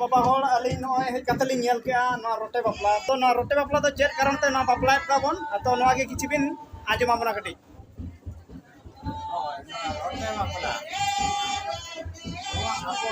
ᱵᱟᱵᱟ ᱦᱚᱲ ᱟᱹᱞᱤᱧ ᱱᱚᱜᱼᱚᱭ ᱦᱮᱡ ᱠᱟᱛᱮ ᱞᱤᱧ ᱧᱮᱞ ᱠᱮᱜᱼᱟ ᱱᱚᱣᱟ ᱨᱚᱴᱮ ᱵᱟᱯᱞᱟ ᱛᱚ ᱱᱚᱣᱟ ᱨᱚᱴᱮ ᱵᱟᱯᱞᱟ ᱫᱚ ᱪᱮᱫ ᱠᱟᱨᱚᱱ ᱛᱮ ᱱᱚᱣᱟ ᱵᱟᱯᱞᱟᱭᱮᱫ ᱠᱚᱣᱟ ᱵᱚᱱ ᱛᱚ ᱱᱚᱣᱟ ᱜᱮ ᱠᱤᱪᱷᱩ ᱵᱤᱱ ᱟᱸᱡᱚᱢ ᱟᱵᱚᱱᱟ ᱠᱟᱹᱴᱤᱡ ᱨᱚᱴᱮ ᱵᱟᱯᱞᱟ ᱱᱚᱣᱟ ᱟᱵᱚ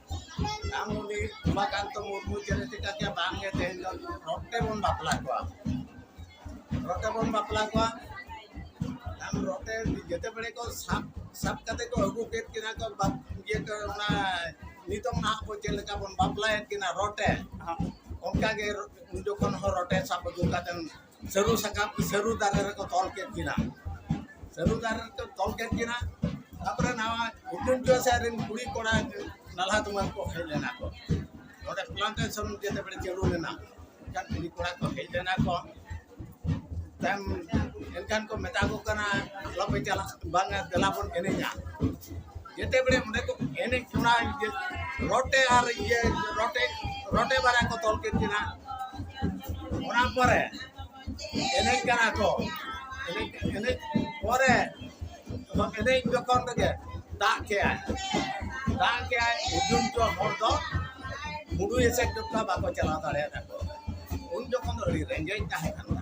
ᱟᱢᱩᱞᱤ ᱩᱢᱟᱠᱟᱱᱛᱚ ᱢᱩᱨᱢᱩ ᱪᱮᱬᱮ ᱪᱮᱠᱟ ᱠᱮ ᱵᱟᱝ ᱜᱮ ᱛᱮᱦᱮᱧ ᱫᱚ ᱨᱚᱴᱮ ᱵᱚᱱ ᱵᱟᱯᱞᱟ ᱠᱚᱣᱟ ᱨᱚᱴᱮ ᱵᱚᱱ ᱵᱟᱯᱞᱟ ᱠᱚᱣᱟ ᱟᱢ ᱨᱚᱴᱮ ᱡᱮᱛᱮ ᱵᱮᱲᱮ ᱠᱚ ᱥᱟᱵ ᱥᱟᱵ ᱠᱟᱛᱮ ᱠᱚ ᱟᱹᱜᱩ ᱠᱮᱫ ᱠᱤᱱᱟ ᱠᱚ ᱤᱭᱟᱹ ᱠᱚ ᱚᱱᱟ ᱱᱤᱛᱚᱝ ᱱᱟᱦᱟᱜ ᱵᱚ ᱪᱮᱫ ᱞᱮᱠᱟ ᱵᱚᱱ ᱵᱟᱯᱞᱟᱭᱮᱫ ᱠᱤᱱᱟ ᱨᱚᱴᱮ ᱚᱱᱠᱟ ᱜᱮ ᱩᱱ ᱡᱚᱠᱷᱚᱱ ᱦᱚᱸ ᱨᱚᱴᱮ ᱥᱟᱵ ᱟᱹᱜᱩ ᱠᱟᱛᱮ ᱥᱟᱹᱨᱩ ᱥᱟᱠᱟᱢ ᱥᱟᱹᱨᱩ ᱫᱟᱨᱮ ᱨᱮᱠᱚ ᱛᱚᱞ ᱠᱮᱫ ᱠᱤᱱᱟ ᱥᱟᱹᱨᱩ ᱫᱟᱨᱮ ᱨᱮᱠᱚ ᱛᱚᱞ ᱠᱮᱫ ᱠᱤᱱᱟ ᱛᱟᱯᱚᱨᱮ ᱱᱟᱣᱟ ᱩᱰᱟᱹᱱ ᱪᱚᱭ ᱥᱮᱫ ᱨᱮᱱ ᱠᱩᱲᱤ ᱠᱚᱲᱟ ᱱᱟᱞᱦᱟ ᱛᱩᱢᱟᱹᱞ ᱠᱚ ᱦᱮᱡ ᱞᱮᱱᱟ ᱠᱚ ᱱᱚᱰᱮ ᱯᱞᱟᱱᱴᱮᱥᱚᱱ ᱡᱮᱛᱮ ᱵᱮᱲᱮ ᱪᱟᱹᱞᱩ ᱞᱮᱱᱟ ᱮᱱᱠᱷᱟᱱ ᱠᱩᱲᱤ ᱠᱚᱲᱟ ᱠᱚ ᱦᱮᱡ ᱞᱮᱱᱟ ᱠᱚ ᱛᱟᱭᱚᱢ ᱮᱱᱠᱷᱟᱱ ᱠᱚ ᱢᱮᱛᱟ ᱠᱚ ᱠᱟᱱᱟ ᱟᱞᱚᱯᱮ ᱪᱟᱞᱟᱜᱼᱟ ᱵᱟᱝᱟ ᱫᱮᱞᱟ ᱵᱚᱱ ᱮᱱᱮᱡᱟ ᱡᱮᱛᱮ ᱵᱮᱲᱮ ᱚᱸᱰᱮ ᱠᱚ ᱮᱱᱮᱡ ᱠᱟᱱᱟ ᱨᱚᱴᱮ ᱟᱨ ᱤᱭᱟᱹ ᱨᱚᱴᱮ ᱨᱚᱴᱮ ᱵᱟᱨᱭᱟ ᱠᱚ ᱛᱚᱞ ᱠᱮᱫ ᱠᱤᱱᱟ ᱚᱱᱟ ᱯᱚᱨᱮ ᱮᱱᱮᱡ ᱠᱟᱱᱟ ᱠᱚ ᱮᱱᱮᱡ ᱮᱱᱮᱡ ᱯᱚᱨᱮ ᱮᱱᱮᱡ ᱡᱚᱠᱷᱚᱱ ᱨᱮᱜᱮ ᱫᱟᱜ ᱠᱮᱜᱼᱟᱭ ᱫᱟᱜ ᱠᱮᱜᱼᱟᱭ ᱩᱡᱩᱱ ᱠᱚ ᱦᱚᱲ ᱫᱚ ᱢᱩᱰᱩ ᱮᱥᱮᱫ ᱡᱚᱠᱷᱚᱱ ᱵᱟᱠᱚ ᱪᱟᱞᱟᱣ ᱫᱟᱲᱮᱭᱟᱫᱟ ᱠᱚ ᱩᱱ ᱡᱚᱠᱷᱚᱱ ᱫᱚ ᱟᱹᱰᱤ ᱨᱮᱸᱜᱮᱡ ᱛᱟᱦᱮᱸ ᱠᱟᱱᱟ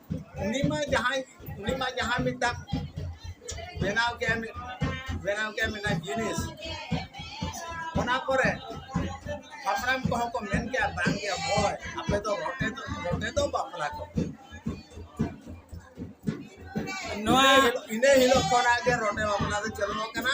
ᱩᱱᱤ ᱢᱟ ᱡᱟᱦᱟᱸᱭ ᱩᱱᱤ ᱢᱟ ᱡᱟᱦᱟᱸ ᱢᱤᱫᱴᱟᱝ ᱵᱮᱱᱟᱣ ᱠᱮᱫ ᱵᱮᱱᱟᱣ ᱠᱮᱫ ᱢᱤᱫᱴᱟᱝ ᱡᱤᱱᱤᱥ ᱚᱱᱟ ᱠᱚᱨᱮ ᱦᱟᱯᱲᱟᱢ ᱠᱚᱦᱚᱸ ᱠᱚ ᱢᱮᱱ ᱠᱮᱫᱟ ᱵᱟᱝ ᱜᱮ ᱦᱳᱭ ᱟᱯᱮ ᱫᱚ ᱨᱚᱴᱮ ᱫᱚ ᱨᱚᱴᱮ ᱫᱚ ᱵᱟᱯᱞᱟ ᱠᱚ ᱱᱚᱣᱟ ᱤᱱᱟᱹ ᱦᱤᱞᱳᱜ ᱠᱷᱚᱱᱟᱜ ᱜᱮ ᱨᱚᱴᱮ ᱵᱟᱯᱞᱟ ᱫᱚ ᱪᱟᱹᱞᱩ ᱟᱠᱟᱱᱟ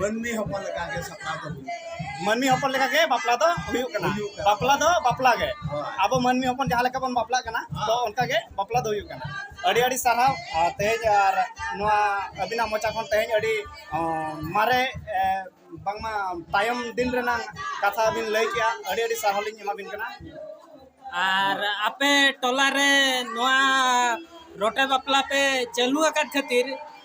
ᱢᱟᱹᱱᱢᱤ ᱦᱚᱯᱚᱱ ᱞᱮᱠᱟ ᱜᱮ ᱥᱟᱯᱲᱟᱣ ᱫᱚ ᱦᱩᱭᱩᱜ ᱠᱟᱱᱟ ᱢᱟᱹᱱᱢᱤ ᱦᱚᱯᱚᱱ ᱞᱮᱠᱟ ᱜᱮ ᱵᱟᱯᱞᱟ ᱫᱚ ᱦᱩᱭᱩᱜ ᱠᱟᱱᱟ ᱦᱩᱭᱩᱜ ᱠᱟᱱᱟ᱾ ᱵᱟᱯᱞᱟ ᱫᱚ ᱵᱟᱯᱞᱟ ᱜᱮ ᱦᱳᱭ᱾ ᱟᱵᱚ ᱢᱟᱹᱱᱢᱤ ᱦᱚᱯᱚᱱ ᱡᱟᱦᱟᱸ ᱞᱮᱠᱟ ᱵᱚᱱ ᱵᱟᱯᱞᱟᱜ ᱠᱟᱱᱟ ᱦᱮᱸ᱾ ᱛᱚ ᱚᱱᱠᱟ ᱜᱮ ᱵᱟᱯᱞᱟ ᱫᱚ ᱦᱩᱭᱩᱜ ᱠᱟᱱᱟ ᱟᱹᱰᱤ ᱟᱹᱰᱤ ᱥᱟᱨᱦᱟᱣ ᱟᱨ ᱛᱮᱦᱮᱧ ᱟᱨ ᱱᱚᱣᱟ ᱟᱹᱵᱤᱱᱟᱜ ᱢᱚᱪᱟ ᱠᱷᱚᱱ ᱛᱮᱦᱮᱧ ᱟᱹᱰᱤ ᱚᱸ, ᱢᱟᱨᱮ ᱮ, ᱵᱟᱝᱢᱟ ᱛᱟᱭᱚᱢ ᱫᱤᱱ ᱨᱮᱱᱟᱜ ᱠᱟᱛᱷᱟ ᱵᱤᱱ ᱞᱟᱹᱭ ᱠᱮᱜᱼᱟ ᱟᱹᱰᱤ ᱟᱹᱰᱤ ᱥᱟᱨᱦᱟᱣ ᱞᱤᱧ ᱮᱢᱟᱵᱤᱱ ᱠᱟᱱᱟ ᱟᱨ ᱟᱯᱮ ᱴᱚᱞᱟ ᱨᱮ ᱱᱚᱣᱟ ᱨᱚᱴᱮ ᱵᱟᱯᱞᱟ ᱯᱮ ᱪᱟᱹᱞᱩ ᱟᱠᱟᱫ ᱠᱷᱟᱹᱛᱤᱨ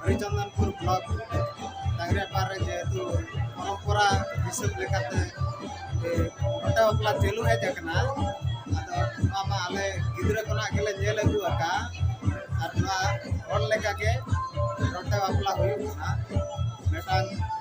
ᱦᱚᱨᱤᱪᱚᱱᱫᱚᱱᱯᱩᱨ ᱵᱞᱚᱠ ᱰᱟᱝᱨᱮᱯᱟᱲ ᱨᱮ ᱡᱮᱦᱮᱛᱩ ᱯᱚᱨᱚᱢᱯᱚᱨᱟ ᱦᱤᱥᱟᱹᱵ ᱞᱮᱠᱟᱛᱮ ᱜᱷᱚᱴᱟ ᱵᱟᱯᱞᱟ ᱪᱟᱹᱞᱩ ᱦᱮᱡ ᱟᱠᱟᱱᱟ ᱟᱫᱚ ᱱᱚᱣᱟ ᱢᱟ ᱟᱞᱮ ᱜᱤᱫᱽᱨᱟᱹ ᱠᱷᱚᱱᱟᱜ ᱜᱮᱞᱮ ᱧᱮᱞ ᱟᱹᱜᱩ ᱟᱠᱟᱫᱼᱟ ᱟᱨ ᱱᱚᱣᱟ ᱦᱚᱲ ᱞᱮᱠᱟᱜᱮ ᱜᱷᱚᱴᱟ ᱵᱟᱯᱞᱟ ᱦᱩᱭᱩᱜ ᱠᱟᱱᱟ ᱢᱤᱫᱴᱟᱝ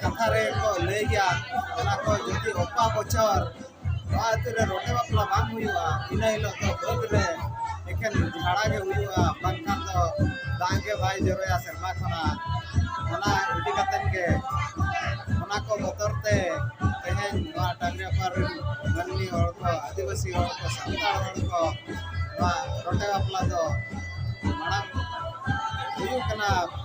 ᱠᱟᱛᱷᱟ ᱨᱮᱠᱚ ᱞᱟᱹᱭ ᱜᱮᱭᱟ ᱚᱱᱟ ᱠᱚ ᱡᱩᱫᱤ ᱚᱠᱟ ᱵᱚᱪᱷᱚᱨ ᱱᱚᱣᱟ ᱟᱹᱛᱩ ᱨᱮ ᱨᱚᱴᱮ ᱵᱟᱯᱞᱟ ᱵᱟᱝ ᱦᱩᱭᱩᱜᱼᱟ ᱤᱱᱟᱹ ᱦᱤᱞᱳᱜ ᱫᱚ ᱵᱟᱹᱫᱽ ᱨᱮ ᱮᱠᱮᱱ ᱡᱷᱟᱲᱟ ᱜᱮ ᱦᱩᱭᱩᱜᱼᱟ ᱵᱟᱝᱠᱷᱟᱱ ᱫᱚ ᱫᱟᱜ ᱜᱮ ᱵᱟᱭ ᱡᱚᱨᱚᱭᱟ ᱥᱮᱨᱢᱟ ᱠᱷᱚᱱᱟᱜ ᱚᱱᱟ ᱤᱫᱤ ᱠᱟᱛᱮᱫ ᱜᱮ ᱚᱱᱟ ᱠᱚ ᱵᱚᱛᱚᱨ ᱛᱮ ᱛᱮᱦᱮᱧ ᱱᱚᱣᱟ ᱴᱟᱺᱰᱤ ᱞᱟᱛᱟᱨ ᱨᱮᱱ ᱢᱟᱹᱱᱢᱤ ᱦᱚᱲ ᱠᱚ ᱟᱹᱫᱤᱵᱟᱹᱥᱤ ᱦᱚᱲ ᱠᱚ ᱥᱟᱱᱛᱟᱲ ᱦᱚᱲ ᱠᱚ ᱱᱚᱣᱟ ᱨᱚᱴᱮ ᱵᱟᱯᱞᱟ ᱫᱚ ᱢᱟᱲᱟᱝ ᱦᱩᱭᱩᱜ ᱠᱟᱱᱟ